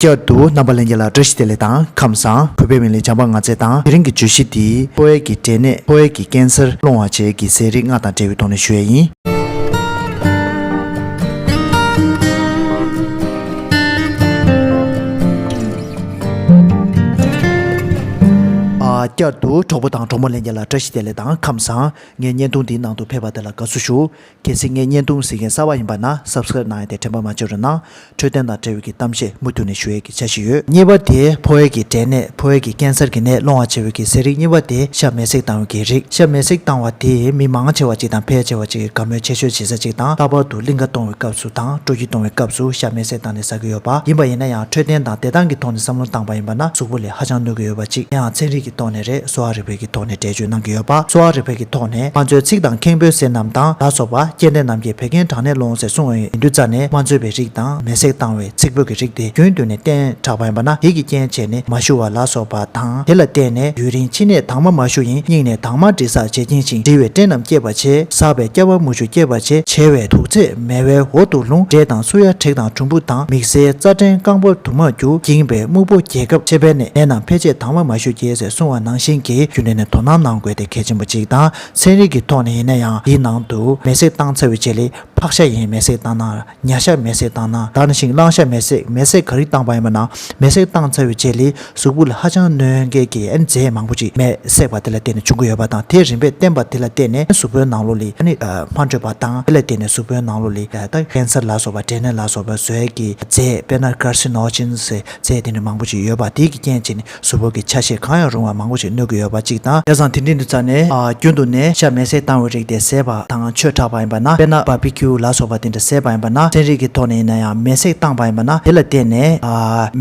བསྐྱར་དུ་རྣམ་པ་ལན་བརྒྱད་ལ་བཀྲ་ཤིས་བདེ་ལེགས་དང་ཁམས་བཟང་གོ་འཕེལ་བའི་ལས་བྱང་པ་ལྔ་སྩལ་དང་དེ་རིང་གི་བརྗོད་གཞི་འདི་ཕོ་བྷལ་གྱི་འབྲས་ནད་ཕོ་བྷལ་གྱི་ཀན་སར་སློང་བར་བྱེད་ཀྱི་ཟས་རིགས་ལྔ་དང་འབྲེལ་བའི་ཐོག་ནས་ཞུ་ཡས་ཡིན། བསྐྱར་དུ་གྲོགས་པོ་དང་གྲོགས་མོ་ལན་བརྒྱད་ལ་བཀྲ་ཤིས་བདེ་ལེགས་དང་ཁམས་བཟང། ངའི་བརྙན་ཐུང་འདིའི་ནང་དུ་ཕེབས་པ་དེ་ལ་དགའ་བསུ་ཞུ། གལ་སྲིད་ངས་བརྙན་ཐུང་གཟིགས་མཁན་གསར་བ་ཡིན་པ་ན Subscribe གནང་ཡས་དེ་དྲན་པ་མ་བྱེད་རོགས་གནང། འཕྲོད་བསྟེན་དང་འབྲེལ་ཡོད་ཀྱི་གཏམ་བཤད་མུ་མཐུད་ནས་ཞུ་ཡས་ཀྱི་བྱ་བཞིན་ཡོད། གཉིས་པ་དེ་ཕོ་ཡས་ཀྱི་དྲན་ནད་ཕོ་ཡས་ཀྱི་ཀན་སར་གྱི་ནད་སློང་བ་བྱེད་འོས་ཀྱི་ཟས་རིགས་གཉིས་པ་དེ་ཤ་མེད་སྲེག་བཏང་འོས་ཀྱི་རིགས་ཤ་མེད་སྲེག་བཏང་བ་དེས་མི་མང་ཆེ་བ་ཅིག་དང་ཕལ་ཆེ་བ་ཅིག་གིས་དགའ་མོས་ཆེ་ཤོས་བྱེད་ས་ཅིག་དང་ལྷག་པར་དུ་གླིང་ཁ་གཏོང་བའི་སྐབས་སུ་དང་སྤྲོ་སྐྱིད་གཏོང་བའི་སྐབས་སུ་ཤ་མེད་སྲེག་བཏང་ནས་ཟ་གི་ཡོད་པ་ཡིན་པ་ཡིན་ན་ཡང་འཕྲོད་བསྟེན་དང་བདེ་ཐང་གི་ཐོག་ནས་བསམ་བློ་བཏང་པ་ཡིན་པ་ན་གཟུགས་པོ་ལས། ཧ་ཅང་གནོད་ཀྱི་ཡོད་པ་གཅིག་དེའང་ཚན་རིག་གི་ཐོག་ནས་རེད་གསོ་བ་རིག་པའི་གི་ཐོག་ནས་འགྲེལ་བརྗོད་གནང་གི་ཡོད་པ་གསོ་བ་རིག་པའི་གི་ཐོག་ནས་དམངས་གཙོའི་ཚིག་དང་ཁེངས་པོའི་ཟས་རྣམས་དང་ལ་སོགས་པ་སྐྱེལ་འདྲེན་རྣམས་ཀྱིས་བད་ཀན་དྲག་ནད་སློང་ཟེར་གསུང་འོས་མི་འདུག་རྩ་ནས་དམངས་གཙོའི་བའི་རིགས་དང་མེ་བསྲེགས་བཏང་བའི་ཚིག་བོད་ཀྱི་རིགས་དེ་རྒྱུན་བསྡུས་ནས་བསྟེན་དྲགས་པ་ཡིན་པ་ན་དེ་གི་རྐྱེན་བྱས་ནས་མ་ཞུ་བ་ལ་སོགས་པ་དང་དེ་ལ་བརྟེན་ནས་ཡུན་རིང་ཕྱི་ནས་དྭངས་མ་མ་ཞུ་ཡིན་སྙིང་ནས་དྭངས་མ་འདྲི་སར་བྱེད་ཀྱིན་ཞིང་འདྲི་བའི་སྐྲན་རྣམས་སྐྱེད་པར་བྱེད་ཟགས་པའི་སྐྱ་བ་མུ་ཆུ་སྐྱེད་པར་བྱེད་བྱེ་བའི་དུག་ཚད། མལ་བའི་འོག་ཏུ་ལུང་འབྲས་དང་སུ་ཡ་དྲེག་དང་གྲུམ་བུ་དང་མིག་སེར་རྩ་སྐྲན་རྐང་པ་དུ་མ་རྒྱུ་འགྱིངས་པའི་སྨུག་པོ་རྒྱས་སྐབས་ཕྱེ་བས་ནད་རྣམས་ཕལ་ཆེར་དྭངས་མ་མ་ཞུ་རྒྱས་སའི་སྲུང་བ་ནང་བཞིན་གྱི་རྒྱུ་འབྲས་ནི་དོ་སྣང་གནང་དགོས་ཏེ་གལ་ཆེན་པོ་གཅིག་དང་ཚན་རིག་གི་ཐོག་ནས་ཡིན་ན་ཡང་འདིའི་ནང་དུ་མེ་བསྲེགས་སྟངས་ཚ་བའི་ཆེད་ལས་ཕག་ཤ་ཡིན་མེ་བསྲེགས་སྟངས་ན་ཉྭ་ཤ་མེ་བསྲེགས་སྟངས་ན་དར་ཤིང་གླང་ཤ་མེ་བསྲེགས་མེ་བསྲེགས་ག་རིགས་སྟངས་པ་ཡིན་པ་ན་མེ་བསྲེགས་སྟངས་ཚ་བའི་ཆེད་ལས། གཟུགས་པོ་ལ་ཧ་ཅང་གནོད་མཁན་གྱི་ཨེན་ཛེམ་མང་པོ་ཅིག་མེས་བསྲེགས་པ་དེ་ལ་བརྟེན་ནས་བྱུང་གི་ཡོད་པ་དང་དེས་རིམ་པས་བསྟན་པ་དེ་ལ་བརྟེན་ནས་གཟུགས་པོའི་ནང་ལོ་ལི་ཨ་ནི་མ་འཕྲོད་པ་དང་དེ་ལ་བརྟེན་ནས་གཟུགས་པོའི་ནང་ལོ་ལི་ཨ་དང་ཀན་སར་ལ་སོགས་པ་འབྲས་ནད་ལ་སོགས་པའི་ཟོལ་གྱི་རྫས་དཔེར་ན་ཀར་སི་ནོ་ཇིན་སི་རྫས་དེ་འདྲ་མང་པོ་ཅིག་ཡོད་པ་དེ་གྱི་རྐྱེན་བྱས་ནས་གཟུགས་པོ་གི་ཆ་ཤས་གང་ཡང་རུང་བ་མང་པོ་ཅིག་གནོད་ཀྱི་ཡོད་པ་གཅིག་དང་དེ་བཟང་དེ་འབྲིང་དུ་བཙའ་ནས་རྒྱུན་དུ་ནས་ཤ་མེས་བསྲེགས་བཏང་བའི་རིགས་དེ་ཟས་པ་དང་ཆོས་གྲགས་པ་ཡིན་པ་ན་དཔེར་ན་སྦར་བི་ཁིའུ་ལ་སོགས་པ་དེ་འདྲ། ཟད་པ་ཡིན་པ་ན་ཚན་རིག་གི་ཐོག་ནས་ཡིན་ན་ཡང་མེས་བསྲེགས་བཏང་པ་ཡིན་པ་ན་དེ་ལ་བརྟེན་ནས་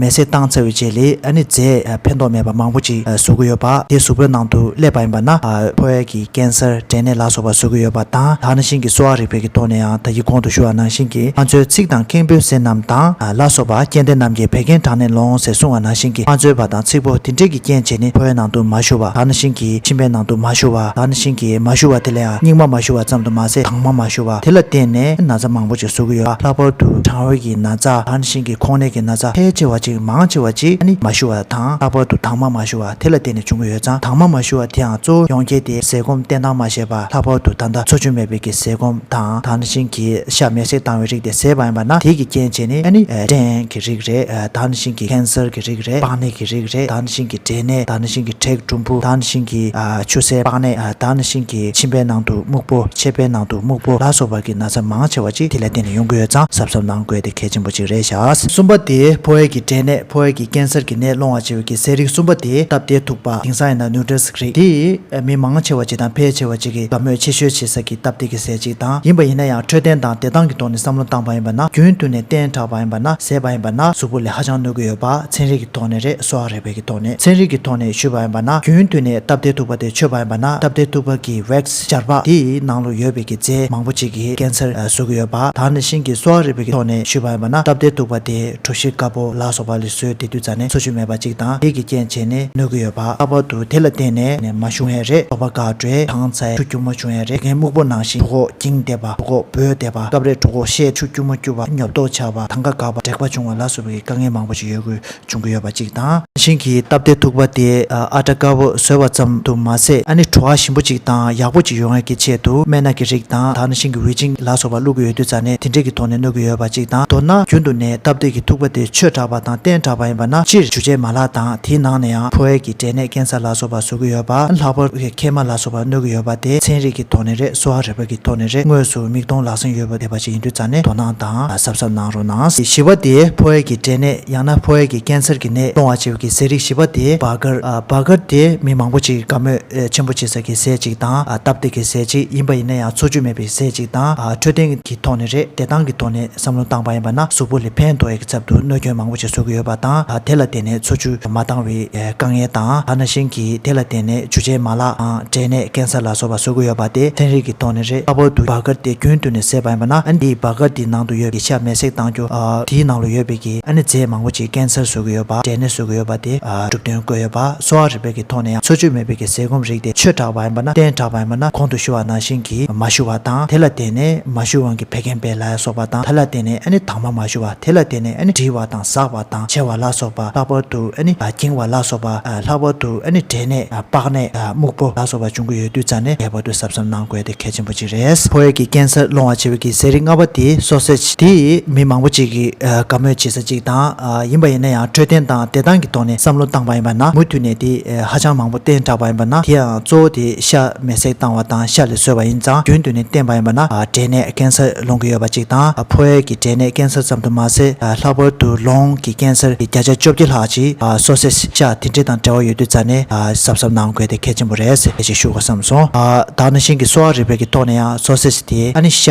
མེས་བསྲེགས་བཏང་ཚར་བའི་རྗེས་ལས་ཨ་ནི་རྫས་ཕན་ཐོགས་མེད་པ་མང་པོ་ཅིག་བཟོ་གི་ཡོད་པ་དེ་གཟུགས་པོའི་ནང་དུ་བསླེབས་པ་ཡིན་པ་ན་ཕོ་བའི་གི་ཀན་སར་དྲན་ནད་ལ་སོགས་པ་བཟོ་གི་ཡོད་པ་དང་ད་ནང་བཞིན་གྱི་གསོ་བ་རིག་པའི་གི་ཐོག་ནས་ཡང་ད་ཡིག་གོང་དུ་ཞུ་བ་ནང་བཞིན་གྱི་ང་ཚོའི་ཚིག་དང་ཁེངས་པོའི་ཟས་རྣམས་དང་ལ་སོགས་པ་སྐྱེ་ལྡན་རྣམས་ཀྱི་བད་ཀན་དྲག་ནད་ལོང་ཟེར་གསུང་བ་ནང་བཞིན་གྱི་ང་ཚོའི་བ་དང་ཚིག་པོ་དེ་འདྲས་གི་རྐྱེན་བྱས་ནི་ཕོ་བའི་ནང་དུ་མ་ཞུ་བ་ད་ནང་བཞིན་གྱི་མཆིན་པའི་ནང་དུ་མ་ཞུ་བ་ད་ནང་བཞིན་གྱི་མ་ཞུ་བ་དེ་ལ་ཡང་སྙིགས་མ་མ་ཞུ་བ་ཙམ་དུ་མ་ཟད་དྭངས་མ་མ་ཞུ་བ། དེ་ལ་བརྟེན་ནས་ན་ཚ་མང་པོ་ཅིག་བཟོ་གི་ཡོད་པ་ལྷག་པར་དུ་གྲང་འོད་ཀྱི་ན་ཚ་དང་ཤིང་གི་ཁོང་ནད་ཀྱི་ན་ཚ་ཕལ་ཆེ་བ་ཅིག་མང་ཆེ་བ་ཅིག་ནི་མ་ཞུ་བ་དང་ལྷག་པར་དུ་དྭངས་མ་མ་ཞུ་བ་དེ་ལ་བརྟེན་ནས་བྱུང་གི་ཡོད་ཙང་དྭངས་མ་མ་ཞུ་བ་དེའང་གཙོ་བོ་ཡོངས་རྒྱལ་ཏེ་ཟས་སྐོམ་བསྟེན་སྟངས་མ་ཤེས་པ་ལྷག་པར་དུ་ད་ལྟ་འཚོ་བཅུད་མེད་པའི་ཀྱི་ཟས་སྐོམ་དང་དྭངས་ཤིང་གིས་ཤ་མེད་སྲེག་བཏང་བའི་རིགས་དེ་ཟས་པ་ཡིན་པ་ན་དེའི་ཀྱི་རྐྱེན་བྱས་ནས་ནི་སྐྲན་གི་རིགས་རེད། ད་ནི་ཤིང་གི་ཁན་སེར་གྱི་རིགས་རེད། པགས་ནད་ཀྱི་རིགས་རེད། ད་ནི་ཤིང་གི་འབྲས་ནད། ད་ནི་ཤིང་གི་མཁྲེགས་གྲུམ་བུ། ད་ནི་ཤིང་གི་ཆུ་སེར་པགས་ནད། ད་ནི་ཤིང་གི་མཆིན་པའི་ནང་དུ་སྨུག་པོ། མཆེར་པའི་ནང་དུ་སྨུག་པོ་ལ་སོགས་པ་གི་ན་ཚ་མང་ཆེ་བ་ཅིག་དེ་ལས་བསྟེན་ནས་ཡོང་གི་ཡོད་ཙང་གཟབ་གཟབ་གནང་དགོས་དེ་གལ་ཆེན་པོ་ཅིག་རེད་ཤག། གསུམ་པ་དེ་ཕོ་ཨེར་གྱི་འབྲས་ནད་ཕོ་ཨེར་གྱི་ཀན་སེར་གྱི་ནད་སློང་བ་བྱེད་འོས་ཀྱི་ཟས་རིགས་གསུམ་པ་དེ་སྟབས་བདེ་ཐུག་པ་དེང་སང་ཡིན་ན Nutrasys། རིགས་དེ་ཡིས་མི་མང་ཆེ་བ་བཅས་དང་ཕལ་ཆེ་བ་བཅས་ཀྱིས་དགའ་མོས་ཆེ་ཤོས་བྱེད་ས་ཀྱི་སྟབས་བདེ་གི་ཟས་ཅིག་དང་ཡིན་པ་ཡིན་ན་ཡང་འཕྲོད་བསྟེན་དང་བདེ་ཐང་གི་ཐོག་ནས་བསམ་བློ་བཏང་བ་ཡིན་པ་ན་རྒྱུན་མཐུད་ནས་བསྟེན་དྲགས་པ་ཡིན་པ་ན་ཟས་པ་ཡིན་པ་ན་གཟུགས་པོ་ལས་ཧ་ཅང་གནོད་ཀྱི་ཡོད་པ་ཚན་རིག་གི་ཐོག་ནས་རེད་གསོ་བ་རིག་པའི་གི་ཐོག་ནས་ཚན་རིག་གི་ཐོག་ནས་ཞུས་པ་ཡིན་པ་ན་རྒྱུན་མཐུད་ནས་སྟབས་བདེ་ཐུག་པ་དེ་ཆོས་པ་ཡིན་པ་ན་སྟབས་བདེ་ཐུག་པ་གི་བེཀ་སྦྱར་པ་དེ་ཡི་ནང་ལུགས་ཡོད་པའི་གི་རྫས་མང་པོ་ཅིག་གིས་ཀན་སར་བཟོ་གི་ཡོད་པ་དག་ནས་བཞིན་གི་གསོ་བ་རིག་པའི་གི་ཐོག་ནས་ཞུས་པ་ཡིན་པ་ན་སྟབས་བདེ་ཐུག་པ་དེ། གྲུ་བཞི་དཀར་པོ་ལ་སོགས་པ་ལས་བཟོས་དེ་དུད་ཚང་ནས་འཚོ་བཅུད་མེད་པ་གཅིག་དང་རིགས་ཀྱི་རྐྱེན་བྱས་ནས་གནོད་ཀྱི་ཡོད་པ་ལྷག་པར་དུ་དེ་ལ་བརྟེན་ནས་ནས་མ་བྱུང་བས་རེད་དོགས་པ་འགའ་བྲོས་དང་ཚ་ཆུ་སྐྱུར་མོ་བྱུང་བས་རེད་དེ་མཁན་སྨུག་པོ་ནང་བཞིན་གྲུ་གོག་འགྱིང་བསྡད་པ་གྲུ་གོག་སྦོས་བསྡད་པ་སྐབས་རེ་གྲུ་གོག་ཤས་ཆུ་སྐྱུར་མོ་བསྐྱུར་བ་ཉོབ་ཏོག་ཆགས་པ་ཐང་ག་འགག་པ་དྲེག་པ་བྱུང་བ་ལ་སོགས་པའི་དཀའ་ངལ་མང་པོ་ཞིག་ཡོད་དགོས་བྱུང་གི་ཡོད་པ། ཅིག་དང། བཞིན་གྱིས་སྟབས་བདེ་ཐུག་པ་དེ་ཨ་བྲ་དཀར་པོས་བཟོས་པ་ཙམ་དུ་མ་ཟད་ཨ་ནི་བྲོ་བ་ཞིམ་པོ་ཅིག་དང་ཡག་པོ་ཅིག་ཡོང་ཡ་གི་ཆེད་དུ་སྨན་སྣ་གི་རིགས་དང་དག་ན་ཤིང་གི་འོད་ཅིང་ལ་སོགས་པ་བླུག་གི་ཡོད་དུས་རྩ་ནས་དེ་འདྲས་ཀྱི་ཐོག་ནས་གནོད་ཀྱི་ཡོད་པ་ཅིག་དང་མདོར་ན་རྒྱུན་དུ་ནས་སྟབས་བདེ་གི་ཐུག་པ་དེ་ཆོས་དྲགས་པ་དང་བསྟན་དྲགས་པ་ཡིན་པ་ན་སྤྱིར་ཇུ་ཆའི་མ་ལག་དང་དེའི་ནང་ནས་ཡང་ཕོ་ཨེར་གྱི་འབྲས་ནད་ཀན་སར་ལ་སོགས་པ་བཟོ་གི་ཡོད་པ་ལྷག་པར་དུ་མཁལ་མ་ལ་སོགས་པ་གནོད་ཀྱི་ཡོད་པ་དེ་ཚན་རིག་གི་ཐོག་ནས་རེད་གསོ་བ་རིག་པ་གི་ཐོག་ནས་རེད་དངོས་སུ་མིག་མཐོང་ལག་ཟིན་ཡོད་པ་བསྡད་པ་ཅིག་ཡིན་དུས་རྩ་ནས་དོ་སྣང་དང། གཟབ་གཟབ་གནང་རོགས་གནང། བཞི་བ་དེ་ཕོ་ཡས་ཀྱི་འབྲས་ནད་ཡང་ན་ཕོ་ཡས་ཀྱི་ཀན་སར་གྱི་ནད་གཏོང་བར་བྱེད་ཀྱི་ཟས་རིགས་བཞི་བ་དེ་བྷ་གར། བྷ་གར་དེ་མི་མང་པོ་ཅིག་དགའ་མོས་ཆེན་པོ་བྱེད་ས་ཀྱི་ཟས་ཅིག་དང་སྟབས་བདེ་གི་ཟས་ཅིག་ཡིན་པ་ཡིན་ན་ཡང་འཚོ་བཅུད་མེད་པའི་ཟས་ཅིག་དང་འཕྲོད་བསྟེན་གྱི་ཐོག་ནས་རེད་བདེ་ཐང་གི་ཐོག་ནས་བསམ་བློ་བཏང་པ་ཡིན་པ་ན་གཟུགས་པོ་ལས་ཕན་ཐོགས་ཡས་ཀྱི་ཚབ་ཏུ་གནོད་སྐྱོན་མང་པོ་ཅིག་བཟོ་གི་ཡོད་པ་དང་དེ་ལ་བརྟེན་ནས་འཚོ་བཅུད་མ་བཏང་བའི། དཀའ་ངལ་དང་ཐ་ན་གཞན་གྱིས་དེ་ལ་བརྟེན་ནས་ཇུ་ཆའི་མ་ལག་དང་འབྲེལ་ནས་གན་ས་ལ་སོགས་པ་བཟོ་གི་ཡོད་པ་དེ་ཚན་རིག་གི་ཐོག་ནས་རེད་ལྷག་པར་དུ་སྦག་སྐར་དེ་རྒྱུན་བསྟུན་ནས་བསྲེས་པ་ཡིན་པ་ན་འདིས་སྦག་སྐར་དེའི་ནང་དུ་ཡོད་པའི་ཡིག་ཆ་མེ་བསྲེགས་བཏང་རྒྱུ་དེའི་ནང་ལོ་ཡོད་པའི་ཀྱི་ཨ་ནེ་རྫས་མང་པོ་ཅིག་གན་སར་བཟོ་གི་ཡོད་པ་འབྲེལ་ནས་བཟོ་གི་ཡོད་པ་དེ་གྲུབ་དོན་བཀོད་ཡོད་པ་གསོ་བ་རིག་པའི་ཀྱི་ཐོག་ནས་ཡང་འཚོ་བཅུད་མེད་པའི་ཀྱི་ཟས་སྐོམ་རིགས་དེ་ཆོས་དྲག་པ་ཡིན་པ་ན་བསྟན་དྲག་པ་ཡིན་པ་ན་གོང་དུ་ཞུ་བ་ནང་བཞིན་གྱི་མ་ཞུ་བ་དང་དེ་ལ་བརྟེན་ནས་མ་ཞུ་དབང་གི་བད་ཀན་བད་ལ་ཡ་སོགས་པ་དང་ད་ལ་བརྟེན་ནས་ཨ་ནེ་དྭངས་མ་མ་ཞུ་བ་དེ་ལ་བརྟེན་ནས་ཨ་ནེ་འདྲིལ་བ་དང་ཟགས་པ། དང་ཕྱེ་བ་ལ་སོགས་པ་ལྷག་པར་དུ་ནི་འགྱིང་བ་ལ་སོགས་པ་ལྷག་པར་དུ་ནི་དྲེལ་ནད་པགས་ནད་སྨུག་པོ་ལ་སོགས་པ་འབྱུང་གི་ཡོད་དུས་རྩ་ནས་ངེས་པར་དུ་གཟབ་གཟབ་གནང་དགོས་དེ་གལ་ཆེན་པོ་གཅིག་རེད། ཕོ་ཡིག་གི་རྐྱེན་སར་སློང་བར་བྱེད་པའི་གི་ཟས་རིགས་ལྔ་པ་དེ་སོ་ཟད་ཅིག་དེ་མི་མང་པོ་ཅིག་གིས་དགའ་མོས་བྱེད་ས་ཅིག་དང་ཡིན་པ་ཡིན་ན་ཡང་འཕྲོད་བསྟེན་དང་བདེ་ཐང་གི་ཐོག་ནས་བསམ་བློ་བཏང་པ་ཡིན་པ་ན་མུ་མཐུད་ནས་དེ་ཧ་ཅང་མང་པོ་བསྟེན་དྲགས་པ་ཡིན་པ་ན་དེའང་གཙོ་བོ་དེ་ཤ་མེ་བསྲེགས་བཏང་བ་དང་ཤ་ལས་བཟོས་པ་ཡིན་ཙང་རྒྱུན་དུ་ནས་བསྟེན་པ་ཡིན་པ་ན་དྲེལ་ནད་རྐྱེན་སར་ལོང་གི་ཡོད་པ་ཅིག་དང་ཕོ་ཡས་ཀྱི་འབྲས་ནད་ཀན་སར་ཙམ་དུ་མ་ཟད་ལྷག་པར་དུ་ལོང་གི་ཀན་སར་གྱི་བརྒྱ་ཆ་བཅོ་བརྒྱད་ལྷག་ཅིག་གསོ་སའི་ཤ་དེ་འདྲི་དང་འབྲེལ་བ་ཡོད་དུས་རྩ་ནས་གཟབ་གཟབ་གནང་དགོས་དེ་གལ་ཆེན་པོ་རེད་ཟེར་ཞིག་ཞུ་དགོས་བསམ་སོང། དག་ན་ཤིང་གི་གསོ་བ་རིག་པའི་གི་ཐོག་ནས་ཡང་གསོ་སའི་དེ་ཨ་ནི་ཤ་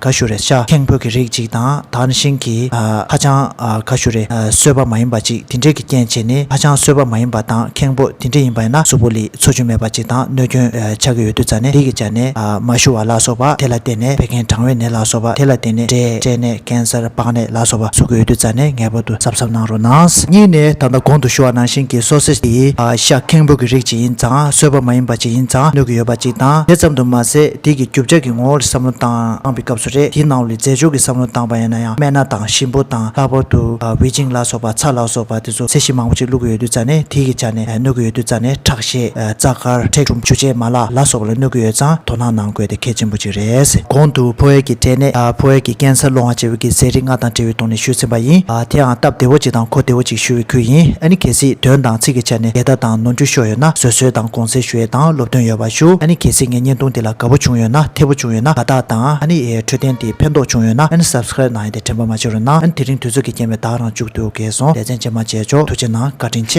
ག་ཞུ་རེད་ཤ་ཁེང་ཕོ་གི་རིགས་ཅིག་དང་དག་ན་ཤིང་གི་ཧ་ཅང་ག་ཞུ་རེད་གསོས་པ་མ་ཡིན་པ་ཅིག་དེ་འདྲི་གི་རྐྱེན་བྱས་ནས་ཧ་ཅང་གསོས་པ་མ་ཡིན་པ་དང་ཁེང་ཕོ་དེ་འདྲི་ཡིན་པ་ཡིན་ན་གཟུགས་པོ་ལི། འཚོ་རྒྱུ་མེད་པ་ཅིག་དང་གནོད་སྐྱོན་ཆགས་ཀྱི་ཡོད་དུས་རྩ་ནས་ལི་གི་བྱ་ནས་མ་ཞུ་བ་ལ་སོགས་པ་དེ་ལ་བརྟེན་ནས་བད་ཀན་གྲང་བའི་ནད་ལ་སོགས་པ་དེ་ལ་བརྟེན་ནས་འབྲས་སྐྲན་ནད་ཀན་སར་པགས་ནད་ལ་སོགས་པ་བཟོ་གི་ཡོད་དུས་རྩ་ནས་ངེས་པར་དུ་གཟབ་གཟབ་གནང་རོགས་གནང། གཉིས་ནས་ད་ལྟ་གོང་དུ་ཞུ་བ་ནང་བཞིན་གྱི་སོ་སེར་དེ་ཤ་ཁེངས་པོ་གི་རིགས་ཅིག་ཡིན་ཙང་གསོད་པ་མ་ཡིན་པ་ཅིག་ཡིན་ཙང་གནོད་ཀྱི་ཡོད་པ་ཅིག་དང་དེ་ཙམ་དུ་མ་ཟད་དེ་གི་རྒྱུ་ཆ་གི་ངོ་བོ་ལ་བསམ་བློ་བཏང་པའི་སྐབས་སུ་རེད་དེའི་ནང་ལོའི་རྫས་སྦྱོར་གྱི་བསམ་བློ་བཏང་པ་ཡིན་ན་ཡང་སྨན་སྣ་དང་ཞིམ་པོ་དང་ལྷག་པར་དུ་བྷི་ཇིང་ལ་སོགས་པ་ཚྭ་ལ་སོགས་པ། ཁྱེད་ཚོ་ཚད་གཞི་མང་པོ་ཅིག་བླུག་གི་ཡོད་དུས་རྩ་ནས་ཐིག་གི་ཆ་ནས་གནོད་ཀྱི་ཡོད་དུས་རྩ་ནས་ཁྲག་ཤེད་རྩ་དཀར་ཁྲེག་ཁྲུམ་ཆུ་སྤྱད་མ་ལ་ལ་སོགས་པ་ལ་གནོད་ཀྱི་ཡོད་ཙང་དོ་སྣང་གནང་དགོས་དེ་གལ་ཆེན་པོ་ཅིག་རེད། གོང་དུ་ཕོ་ཡས་ཀྱི་དྲེལ་ནད་ཕོ་ཡས་ཀྱི་ཀན་སར་སློང་བ་བཅས་བོད་ཀྱི་ཟས་རིགས་ལྔ་དང་འབྲེལ་བའི་ཐོག་ནས་ཞུས་ཟིན་པ་ཡིན། དེའང་སྟབས་བདེ་བོ་ཅིག་དང་གོ་བདེ་བོ་ཅིག་ཞུ་བའི་ཁུལ་ཡིན་ཨ་ནི་གལ་སྲིད་དོན་དང་ཚིག་གི་ཆ་ནས་འགལ་ཟླ་དང་ནོར་འཁྱུག་ཤོར་ཡོད་ན་བཟོད་གསོལ་དང་དགོངས་སེལ་ཞུ་ཡས་དང་སློབ་སྟོན་ཡོད་པ་ཞུ་ཨ་ནི་གལ་སྲིད་ངའི་བརྙན་ཐུང་འདི་ལ་དགའ་བོ་བྱུང་ཡོད་ན་འཐད་བོ་བྱུང་ཡོད་ན་དགའ་རྟགས་དང་ཨ་ནི་འཕྲོད་བསྟེན་འདི་ཕན་ཐོགས་བྱུང་ཡོད་ན་ཨ་ནི Subscribe གནང་ཡས། དྲན་པ་མ་བྱེད་རུང་ན། དེ་རིང་དུས་ཚོད་ཀྱིས་རྐྱེན་པས་བདག་རང་བཅུག་སྡོད་དགོས་སོང་ལས་ཚན་ཆེ་མ་བྱས་ཆོག་ཐུགས་ཆེ་གནང་བཀའ་དྲིན་ཆེ།